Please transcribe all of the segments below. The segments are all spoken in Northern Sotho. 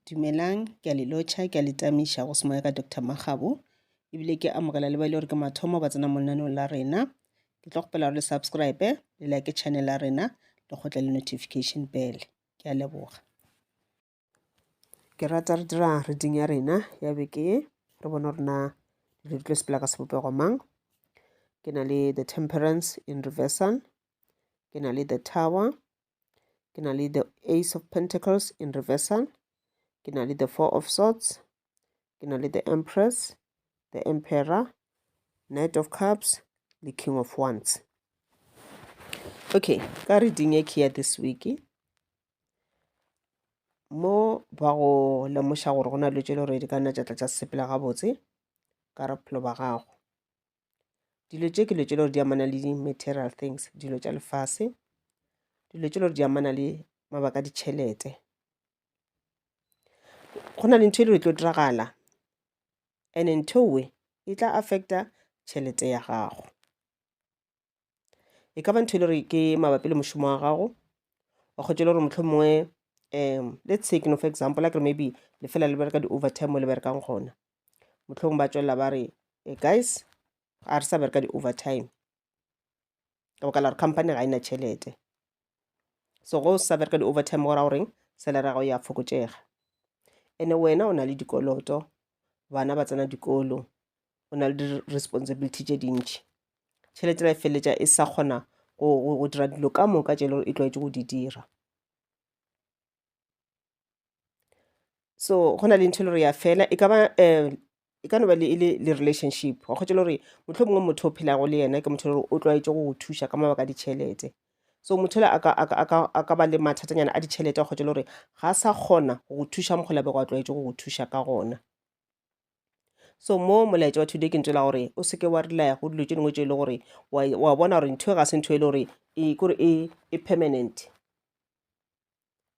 Dumelang, ke a le lotšha, ke a le tamiša go semoya ka Doctor Makgabo, ebile ke amogela le ba e le gore ke mathomo ba tsena mo lenaneong la rena. Ke tlo kgopela gore le subscribe, le like channel ya rena, le kgotle le notification bell. Ke a leboga. Ke rata re dira reading ya rena ya beke ye, re bone gore na dilo di tlo sepela ka sebopego mang. Ke na le The Temperance in Reversal, ke na le The Tower, ke na le the ace of pentacles in reversal ke na le the four of swords ke na le the empress the emperor knight of cups le king of wands okay ka reading e ke ya this week mo ba go lemoša gore go na le tšelo re di ka nna tša tla tša sepela gabotse ka re phelo ba gago dilo tše ke dilo tše le gore di amana le di-material things dilo tša lefase dilo tše le gore di amana le mabaka a ditšhelete go na le ntho e le gore e tlo diragala and-e ntho e e tla affecta tšhelete ya gago e ka ba ntho e le gore ke mabapi le mošomo wa gago wa kgotse le gore motlho mongwe um let's say keno for example a kere maybe le fela le bereka di-overtime mo le berekang gona motlhong ba tswelela ba re e guys a re sa bereka di-overtime ka baka la gore company ga e na tšhelete so go sa bereka di-overtime go ra goreng salary ya gago ya fokotšega ene wena o na le dikoloto bana ba tsena dikolo o na le di-responsibility tše dintši tšhelete la e feleletša e sa kgona go dira dilo ka moka tše e le gore e tlwaetše go di dira so go na le ntho e le gore ya fela e ka ba um e ka no ba le e le le relationship wa kgotsa le gore motlho mongwe motho o phelago le yena ke motho le gore o tlwaetse go go thuša ka mabaka a ditšhelete so motho le a ka- a ka- a ka- a ka ba le mathatanyana a ditšhelete wa kgotsa le gore ga a sa kgona go go thuša mokgwa labego a tlwaetse go go thuša ka gona so mo molaetša wa today ke ntse la gore o seke wa relaya go dilo tše dingwe tše e le gore wa e- wa bona gore ntho e ga se ntho e le gore e kore e e permanent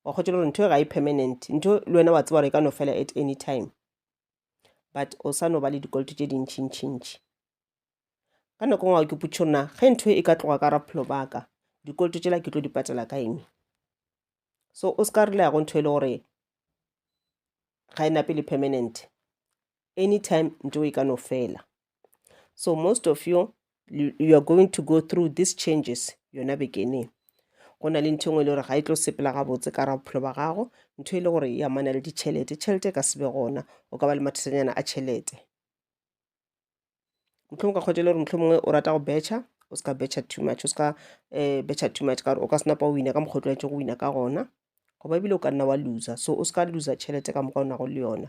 wa kgotsa gore ntho e ga e permanent ntho le wena wa tseba gore e ka no fela at any time but o sa no ba le dikoloto tše dintšhintšhintši ka nako ngwe ke putšho nna ge ntho e ka tloga ka raphelo baka dikoloto tšela ke tlo di patela ka eng so o se ka re leyago ntho e le gore ga e nape le permanent anytime nto e ka no fela so most of you you are going to go through these changes yona bekeneng go na le ntho engwe e le gore ga e tlo sepela gabotse ka ra bophelo ba gago ntho e le gore ya mana le ditšhelete tšhelete e ka sebe gona o ka ba le mathesanyana a tšhelete motlho ka kgwetele gore motlho mongwe o rata go betšha o seka betšha too much o seka um eh, betšha too much kare o ka senapa o wina ka mokgwa o tlwaetse go wina ka gona goba ebile o ka nna wa loser so o seka loser tšhelete ka mokgwa o nago le yona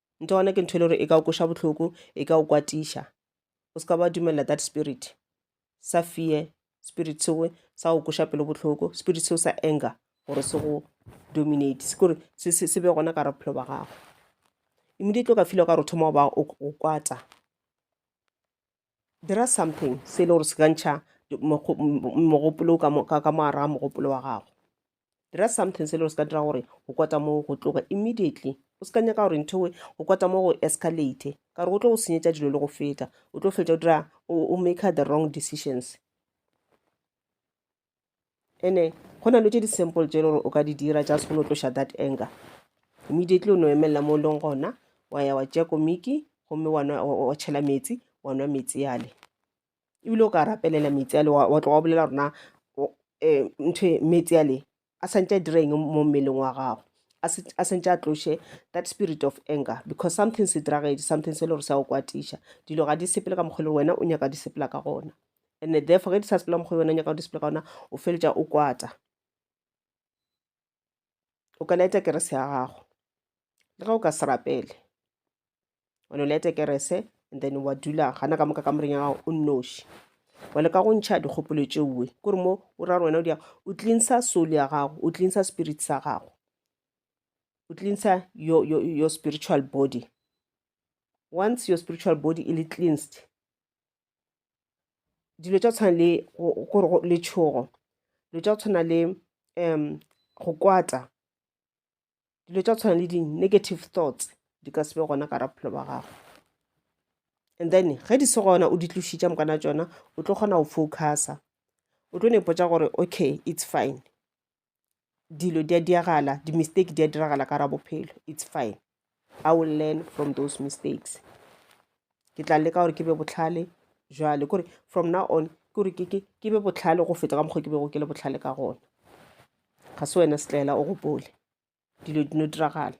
nto gona ke ntho e le gore e ka o koša bohloko e ka o kwatiša o se ka ba dumelela that spirit sa fear spirit seo sa go koša pelo bohloko spirit seo sa anger gore se go dominate se kore se be gona ka re bophelo ba gago immediately o ka fila ka re o thoma o ba o kwata dira something se e le gore se ka ntšha mogopolo ka mogare ga mogopolo wa gago dira something se e le gore se ka dira gore go kwata mo go tloga immediately o se ka nyaka gore ntho e go kwata mo go escalate ka gore go tlo go senyetsa dilo le go feta o tlo fetsa o dira o maker the wrong decisions ene go na le tse di-simple tse e le gore o ka di dira just go no tloša that anger immediately o no emelela mo o leng gona wa ya wa tšea komiki gomme wa tšhela metsi wa nwa metsi yale ebile o ka rapelela metsi ale wa tloga wa bolela rona um eh, ntho metsi ale a santse a direng mo mmeleng wa gago a sentse a tloshe that spirit of anger because something se diragetse something se le gore sa o kwatiša dilo ga di sepele ka mokgwa le wena o nyaka di sepela ka gona and therefore ge di sa sepela mokgwa wena nyaka go display ka ona o feletša o kwata o ka laeta kerese ya gago le ge o ka se rapele one o laeta kerese and then wa dula gana ka moka ka moreng ya gago o nnoši wa leka go ntšha dikgopolo tšeoe kore mo o ra gore wena o dia o cleansa soul ya gago o cleansa spirit sa gago o cleansa your, your, your spiritual body once your spiritual body e le cleansed dilo tša tshwana le gore letšhogo dilo tša go tshwana le um go kwata dilo tša tshwana le di-negative thoughts di ka se be gona ka ra bophelo ba gago and then ge di se gona o di tlošitša mokana tšona o tlo kgona go focusa o tlo nepotsa gore okay it's fine dilo di a diragala di-mistake di a diragala ka gare ga bophelo it's fine I will learn from those mistakes ke tla leka gore ke be bohlale jwale kore from now on kore ke be bohlale go feta ka mokgwa ke bego ke le bohlale ka gona ga se wena setlaela o gopole dilo di no diragala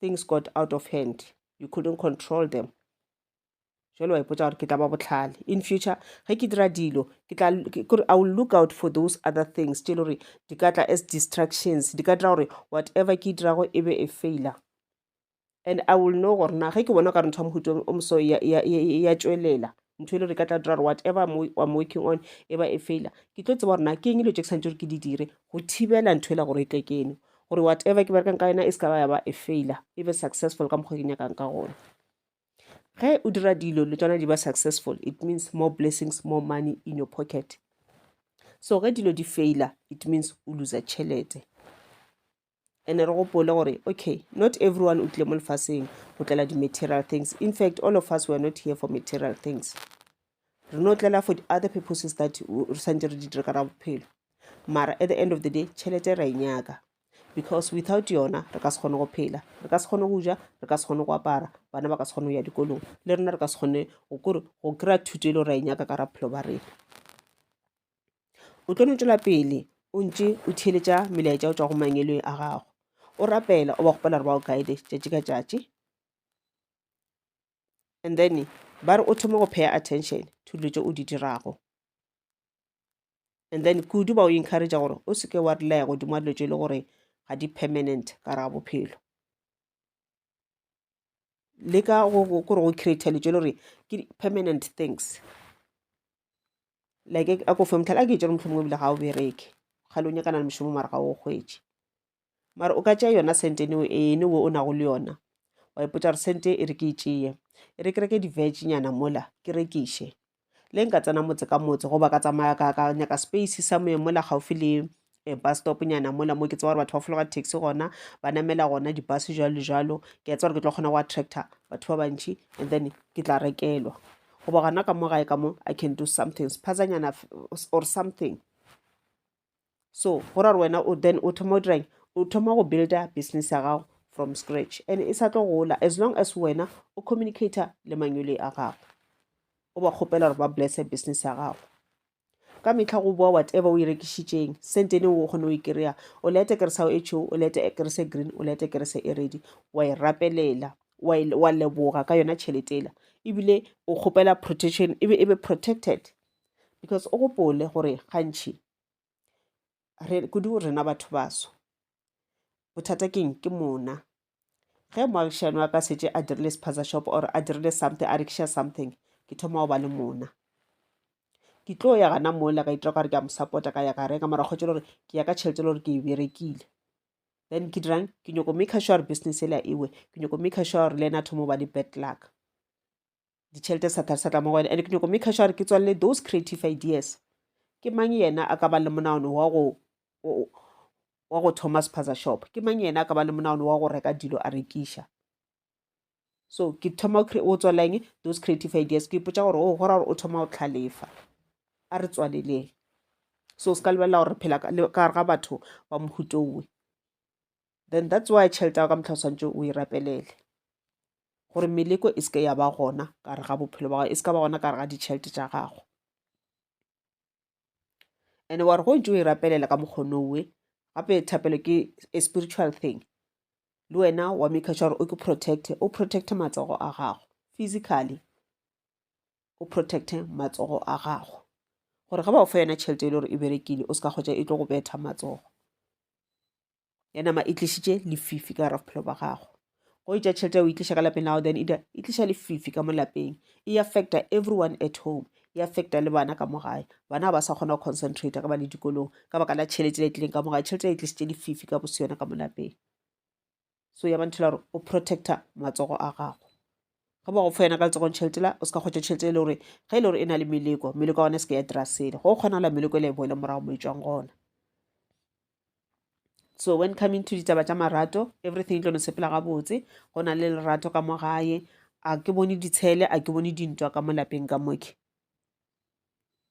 things got out of hand you couldn't control them jalo wa ipotsa gore ke tla ba botlhale in future ge ke dira dilo ke tla kore i will look out for those other things tse e le gore di ka tla as distractions di ka dira gore whatever ke e dirago e be e failer and i will know gore na ge ke bona ka re ntho ya mohuto o moso ya tswelela ntho e le gore e ka tla dira gore whatever i'm working on e ba e failer ke tlo tseba gore na ke eng dilo tse ke santse gore ke di dire go thibela ntho e la gore e tle keno gore whatever ke berekang ka yona e se ka ba ya ba e failer e be successful ka mokgwa ke nyakang ka gona ge o dira dilo le tsona di ba successful it means more blessings more money in your pocket so ge dilo di faila it means o losa tšhelete ene re gopole gore okay not everyone o tlile mo lefaseng go tlela di-material things in fact all of us were not here for material things re no tlela for the other purposes that re santse re di dire ka ra bophelo mara at the end of the day tšhelete ra e nyaka because without yona re ka se kgone go phela re ka se kgone go ja re ka se kgone go apara bana ba ka se kgone go ya dikolong le rena re ka se kgone go kore go kry-a thuto e le ra e nyaka ka raphelo ba rena o tlo no tswela pele o ntse o theletša melaetša o tswa go mangelong a gago o rapela o ba gopela re ba o guide tšatši ka tšatši and then ba re o thome go pay attention to dilo tse o di dirago and then kudu ba o encourage gore o seke wa relaya godimo wa dilo tse e le gore ga di permanent ka ra bophelo le ka kore go create dilo tse e le gore ke permanent things like a ko fe motlhala a ke e tsere motlhomongwe ebile ga o bereke ga le o nyakana le mošomo mara ga o kgwetše mara o ka tšea yona sentene o ene wo o nago le yona wa ipotsa gore sente e re ke e tšeye e re ke reke diveginyana mola ke rekiše le nka tsena motse ka motse goba ka tsamaya ka ka nyaka space sa moye mola gaufi le eh, bus stop nyana mola mo ke tseba gore batho ba fologa taxi gona ba namela gona dibus jalo le jalo ke a tseba gore ke tlo kgona go attracta batho ba bantšhi and then ke tla rekelwa goba gona ka mo gae ka mo i can do something sephazanyana or something so go ra gore wena o then o thoma o dirang o thoma go builda business ya gago from scratch and e sa tlo gola as long as wena o communicator le manyole a gago o ba kgopela gore ba blesse business ya gago ka metlha go boa whatever o e rekišitšeng sentene o kgone o e kry-a o lete kerese ao e tšho o lete kerese green o lete kerese e redi wa e rapelela wa leboga ka yona tšheletela ebile o kgopela protection ebe e be protected because o gopole gore gantšhi re kudu rena batho baso bothata keng ke mona ge moagišani wa ka setse a dirile sephaza shop or a dirile something a rekiša something ke thoma go ba le mona ke tlo ya gana mola ka itira gore ke a mo support-a ka ya ka reka mara kgwetsa gore ke ya ka tšhelete le gore ke e berekile then ke dirang ke nyoko make sure business ela ewe ke nyoko make sure le ena thoma ba le bad luck ditšhelete sa thari sa tla mo go wena and ke nyoko make sure ke tswalele those creative ideas ke mang yena a ka ba le monaono wa go wa go thoma sephaza shop ke mang yena a ka ba le monaono wa go reka dilo a rekiša so ke thoma o tswaleng those creative ideas ke ipotsa gore o oh, gora gore o thoma go tlhalefa a re tswaleleng so se ka lebelela gore phela ka gare ga batho ba mohutowe then that's why tšhelete ya ka motlha o tshwanetse o e rapelele gore meleko e seke ya ba gona ka re ga bophelo ba gago e seka ba gona ka re ga ditšhelete tša gago and wa re go ntse o e rapelela ka mokgono we gape thapelo ke a spiritual thing le wena wa maker sure gore o ke protecte o protecte matsogo a gago physically o protecte matsogo a gago gore ga ba o fa yona tšhelete e le gore e berekile o se ka kgotsa e tlo go betha matsogo ya nama e tlišitše lefifi ka gara bophelo ba gago go itša tšhelete ya o itliša ka lapeng la gago then e tliša lefifi ka mo lapeng e affecta everyone at home e affecta le bana ka mo gae bana ga ba sa kgona go concentrate ka ba le dikolong ka baka la tšhelete le e tlileng ka mo gae tšhelete e tlišitše lefifi ka bose yona ka mo lapeng so ya banthela gore o protecta matsogo a gago ge ba go fa yona ka letsogong tšhelete la o se ka kgwetsa tšhelete e le gore ge e le gore e na le meleko meleko ya gone se ke ya dira sele go kgonala meleko e le e boele morago mo e tswang gona so when coming to ditaba tša marato everything e tlo no sepela gabotse go na le lerato ka mo gae a ke bone ditshele a ke bone dintwa ka mo lapeng ka moke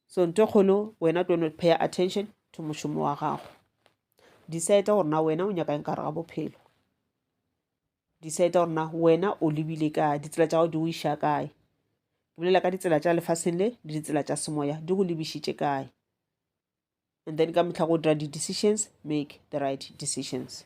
so nto e kgolo wena tlo no pay attention to mošomo wa gago decide gore na wena o nyaka eng ka re ga bophelo decide gore na wena o lebile ka ditsela tša gago di o iša kae ke bolela ka ditsela tša lefaseng le le ditsela tša semoya di go lebišitše kae and then ka mehla go dira di-decisions, make the right decisions.